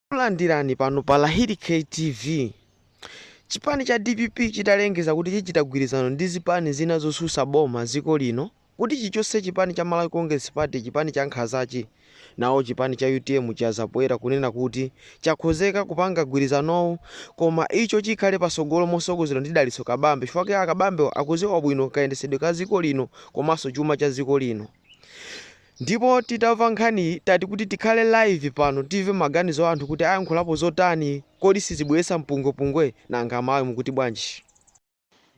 Takulandirani pano pa Lahiri K TV. Chipani cha dpp chitalengeza kuti chichita gwirizano ndi zipani zina zosusa boma ziko lino kuti chichose chipani cha Malawi Congress Party chipani cha nkhazachi, nawo chipani cha utm chayankha poyera kunena kuti chakhozeka kupanga gwirizanowu koma icho chikhale pasogolo mosogozedwa ndi Dalitso Kabambe chifukwa ake a Kabambewa akuziwa bwino kayendesedwe ka ziko lino komaso chuma cha ziko lino. Ndipo titamva nkhaniyi tati kuti tikhale live pano timve maganizo a anthu kuti ayankhulapo zotani kodi sizibweretsa mpungwepungwe? Nanga Amalawi mukuti bwanji?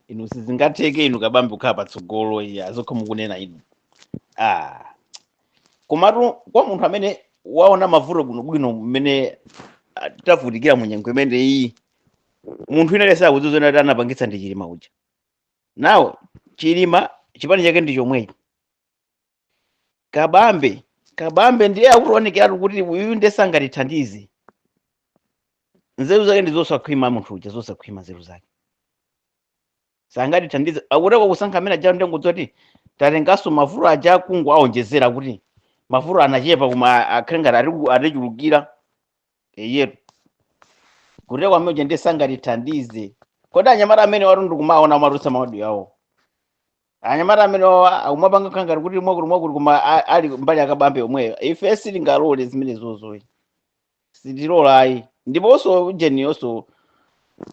inu sizingatheke inu Kabambe kukhala patsogolo iya zokha mukunena inu ah. komatu kwa munthu amene waona mavuto bwinobwino mmene ah, tavutikira mu nyengo imene iyi munthu analesa akudziwa zoti anapangitsa ndi chilima uja nawo chilima chipani chake ndi chomwechi kabambe kabambe ndiye akuonekeratu kuti uyu ndiye sangatithandize nzeru zake ndi zosakhwima munthu uja zosakhwima nzeru zake sangatithandize akuti akasankha amene aja ndi kungodziwa kuti tatenganso mavuto aja akungowaonjezera kuti mavuto anachepa koma akhale ngati atichulukira eyetu kuti kwa amene uja ndiye sangatithandize kodi anyamata amene atu ndikumaona amatulutsa maaudio awo anyamata amene wawa akumapanga kukhala ngati kuti mwakuti mwakuti koma a- ali mbali akabambe omweyo ife sitingalole zimenezo ayi sitilola ayi ndiponso ujeniyonso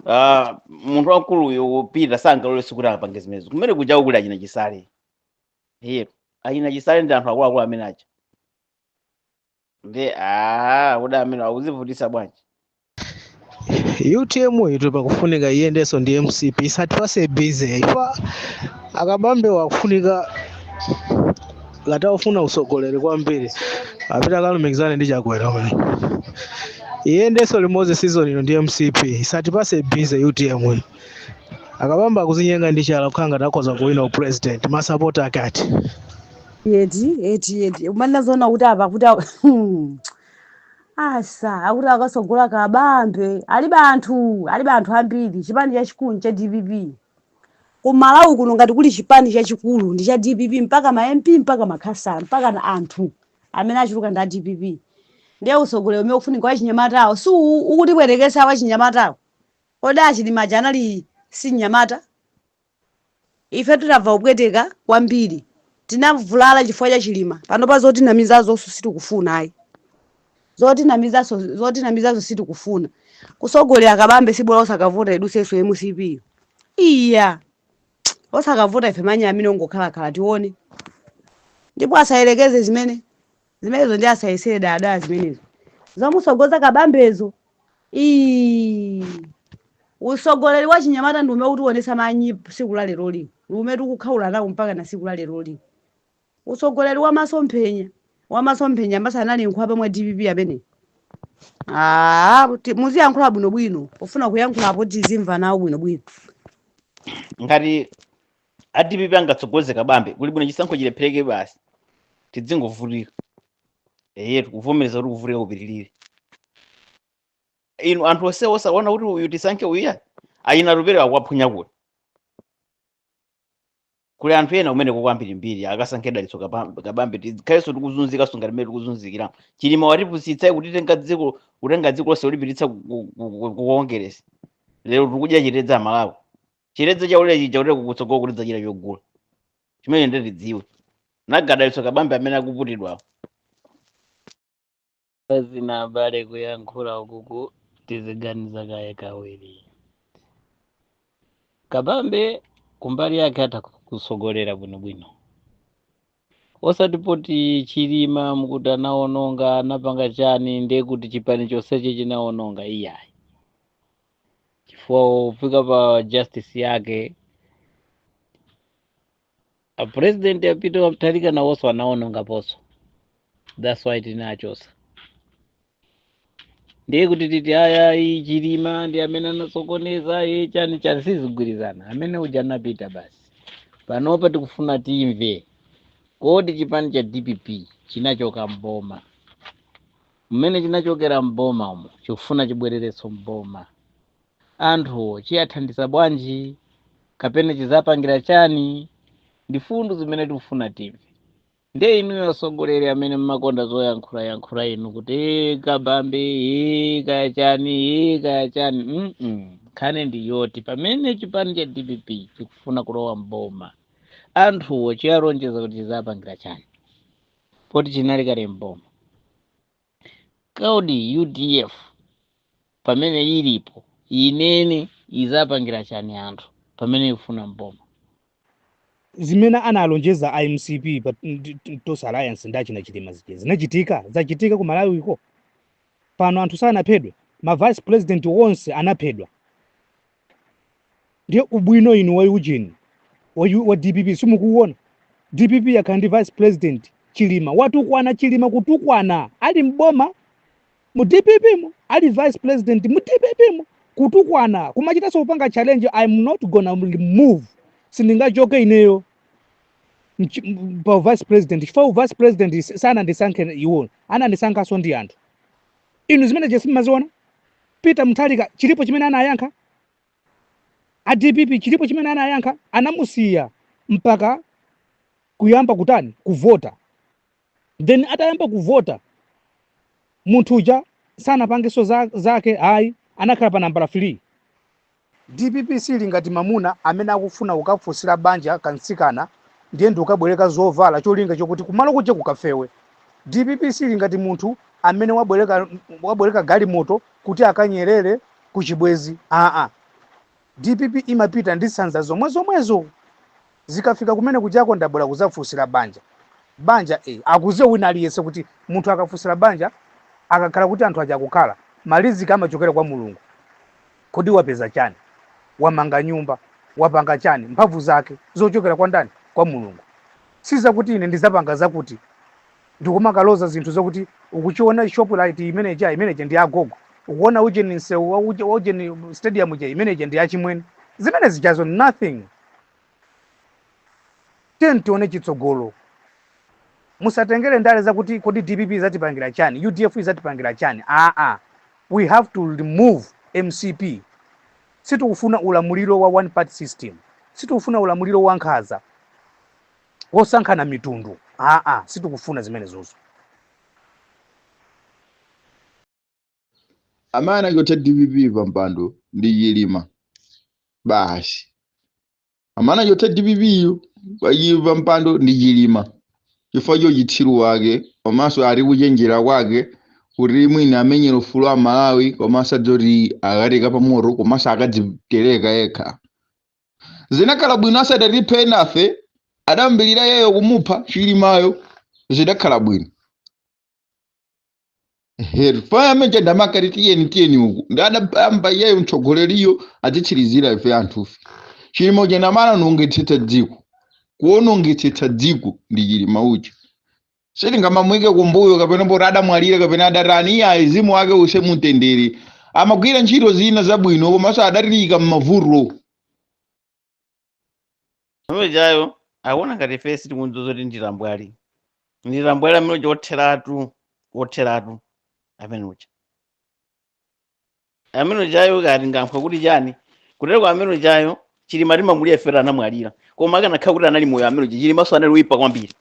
ah, munthu wamkuluyo Peter sangalole sikuti akapange zimenezo kumene kujako kuli achina chisale iye achina chisale ndi anthu akuluakulu amene aja nde aa kodi amene akuzivutisa bwanji utm itu ikufunika iyendenso ndi mcp isatipase busy ife a Kabambe wakufunika ngati akufuna usogoleri kwambiri apite akalumikizane ndi chakwera uyu iyendenso limodzi season ino ndi mcp isatipase busy utm uyu a Kabambe akuzinyenga ndi chala kukhala ngati akhoza kuwina upresident masapota akati Eti, eti, eti. Umanena zoona kuti apa kuti awa- Hmm. asa akuti akasogola kabambe alibe anthu alibe anthu ambiri chipani chachikulu cha dpp ku malawi kuno ngati kuli chipani chachikulu ndi cha dpp mpaka ma mp mpaka makhansala mpaka na anthu amene achuluka ndi a dpp ndiye usogoleri umene ukufunika wachinyamatawo si u- ukutipwetekesa wachinyamatawo kodi a Chilima aja anali si mnyamata Ifetu tamva kupweteka kwambiri. Tinavulala chifukwa cha Chilima. Panopa zotinamizazonso sitikufuna ayi. Zotinamizanso zotinamizanso sitikufuna. Kusogolera kabambe si bola osakavota idusenso mcp yo. Iya! Osakavota ife manyi amenewo tingokhalakhala tione. Ndipo asayerekeze zimene Zimenezo ndiye asayesere dayadaya zimenezo. Zomusogoza kabambezo. Iii. Usogoleri wa chinyamata ndi umene utiwonesa manyazi siku la leroli. Ndi umene tikukhaula nawo mpaka na siku la leroli. Usogoleri wa masomphenya. Wa masomphenya amenewaso anali nkhwapa mwa dpp amene. Aaa, ti- muziyankhula bwinobwino. Pofuna kuyankhula apo tizimva nawo bwinobwino. ngati a dpp angatsogoze kabambe kuli bwino chisankho chilephereke basi tidzingovutika eye tikuvomereza kuti kuvutika kupitirire inu anthu onse osaona kuti uyu tisankhe uya ayina lupere akuwaphunya kuti kuli anthu ena kumeneko ambirimbiri akasankhe dalitso Kabam- kabambe tikhalenso tikuzunzika ngati mmene tikuzunzikira chilima watipusitsa kutitengera dziko kutenga dziko lonse kulipititsa ku- ku- ku- ku kongeresi lero tikudya chiledza malawi chiledza chaulere chija kuti kukutsogolo tidzachita chogula chimene nde tidziwe nanga dalitso kabambe amene akuputidwawo zina abale kuyankhula ukuku tiziganiza kaye kawiri kabambe kumbali yake atha kutsogolera bwinobwino osati poti chilima mukuti anaononga anapanga chani ndiye kuti chipani chonsechi chinaononga iyayi chifukwa kufika pa justice yake a president a peter wa mutharika nawonso anaonongaponso that's why tinawachosa ndiye kuti tiziti ayi ayi chilima ndi amene anasokoneza ye chani chani sizigwirizana amene uja anapita basi panopa tikufuna timve kodi chipani cha dpp chinachoka mboma mmene chinachokera m'boma umo chikufuna chibwererenso m'boma anthuwo chiwathandiza bwanji kapena chizawapangira chani ndi mfundo zimene tikufuna timve ndiye inuyo atsogoleri amene mmakonda zoyankhula yankhula inu kuti "Ee, kabambe ee, kaya chani ee, kaya chani mm nkhani ndi yoti pamene chipani cha dpp chikufuna kulowa m'boma anthuwo chiwalonjeza kuti chizawapangira chani poti chinali kale mboma kodi udf pamene ilipo inene izawapangira chani anthu pamene ikufuna mboma zimene analonjeza a mcp pa ndi- ndi- tonse alliance ndi achina chilima zija zinachitika zachitika ku malawiko pano anthu sanaphedwe ma vice president onse anaphedwa ndiye ubwino inu wa ujeni wa, U- wa dpp simukuwuona dpp yakhala ndi vice president chilima watukwana chilima kutukwana ali mboma mu dpp mu ali vice president mu dpp mu kutukwana kumachita kuso kupanga challenge i'm not gonna move sindingachoke ineyo mchi- m- pa vice president chifukwa u vice president is- sanandisankhe iwo anandisankhanso ndi anthu inu zimene zija simaziona Peter Mutharika chilipo chimene anayankha? A dpp chilipo chimene anayankha? Anamusiya mpaka kuyamba kutani? Kuvota. Then atayamba kuvota munthu uja sanapangenso za, zake ayi anakhala pa nambala 3 Dpp sili ngati mamuna amene akufuna kukafunsira banja ka mtsikana ndiye ndikukabwereka zovala cholinga chokuti kumalo kuja kukafewe. Dpp sili ngati munthu amene wabwereka galimoto kuti akanyerere kuchibwenzi aa. Dpp imapita ndi sanza zomwezomwezo. zikafika kumene kujako ndabwera kuzafunsira banja banja e, akuziwa wina aliyense kuti munthu akafunsira banja akakhala kuti anthu aja akukhala maliziki amachokera kwa mulungu kodi wapeza chani wamanga nyumba wapanga chani mphamvu zake zochokera kwa ndani kwa mulungu si zakuti ine ndizapanga zakuti ndikumakaloza zinthu zakuti ukuiona shoprite imeneja imeneja ndi agogo ukuona ujeni msewu wa uje- wa ujeni stadium ija imeneja ndi achimwene zimene zijazo nothing Tiyeni tione chitsogolo. Musatengere ndale zakuti kodi dpp izatipangira chani, udf izatipangira chani. Aa, we have to remove mcp. Sitikufuna ulamuliro wa one party system, sitikufuna ulamuliro wankhaza wosankhana mitundu. Aa, sitikufuna zimenezozo. amene anachotsa dpp pa mpando ndi chilima basi amene anachotsa dpp yo pa chi- pa mpando ndi chilima chifukwa cha uchitsiru wake komanso ati kuchenjera kwake kuti mwina amenyera ufulu wa amalawi komanso adzati akatenga pamoto komanso akadzitereka yekha zinakhala bwino asadatiphe enafe adayambirira iyeyo kumupha chilimayo zidakhala bwino herfame chandamaka tiyeni tiyeni uku adayamba iyeyo mtsogoleriyo azitsirizira ife anthufe chilima uja anaonongetsetsa dziko kuonongetsetsa dziko ndi chilima uja sitingamamuike kumbuyo kapena poti adamwalira kapena adatani iye mzimu wake use mutendere amagwira ntchito zina zabwino komanso adatiika m'mavuto amene ujayo akuona ngati ife sitikudziwa zoti ndilambwali ndilambwali amene uja otheratu otheratu amene uja amene ujayo kati ngamphwe kuti chani kutero kwa amene ujayo chilima timamulira ife anamwalira koma akanakhala kuti anali moyo amene uja chilimanso anali woyipa kwambiri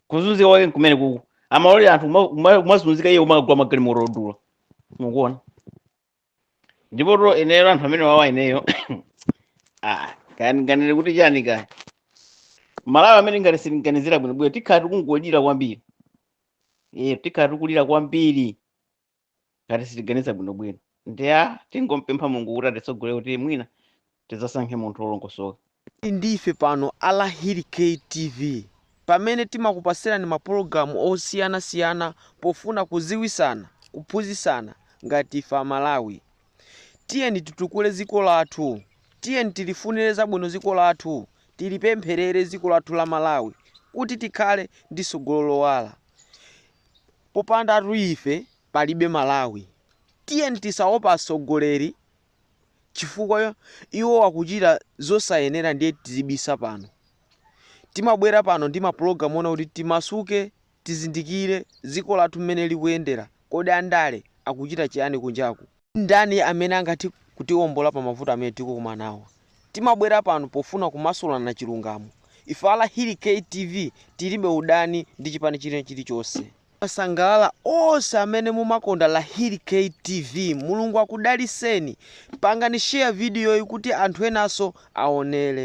kuzunzika kwake nkumene kuku amalolera anthu kuma- kuma- kumazunzika iye kumakagula magalimoto odula mukuona ndipo to ineyo anthu amene wawa ineyo ah, kanganire kuti chani kaya malawi amene ngati sitiganizira bwinobwino tikhala tikungolira kwambiri iye tikhala tikulira kwambiri ngati sitiganiza bwinobwino ndiye tingompempha mulungu kuti atitsogolere kuti mwina Tidzasankhe munthu olongosoka. Muli ndi ife pano a Lahiri K TV pamene timakupasirani ma pologalamu osiyana siyana pofuna kuziwisana, kuphunzisana ngati ife amalawi. Tiyeni titukule ziko lathu, tiyeni tilifunire zabwino ziko lathu, tilipempherere ziko lathu la Malawi kuti tikhale ndi sogolo lowala. Popandatu ife palibe Malawi. Tiyeni tisaope atsogoleri chifukwa iwo akuchita zosayenera ndiye tizibisa pano. Timabwera pano ndi mapulogalamu oona kuti timasuke, tizindikire dziko lathu mmene likuyendera. Kodi andale akuchita chiyani kunjaku? Ndani amene angathe kutiwombola pa mavuto amene tikukumana nawo? Timabwera pano pofuna kumasulana chilungamo. Ife a Lahiri K TV tilibe udani ndi chipani china chilichonse. Masangalala onse amene mumakonda Lahiri K TV Mulungu akudaliseni pangani share video yi kuti anthu enanso aonele.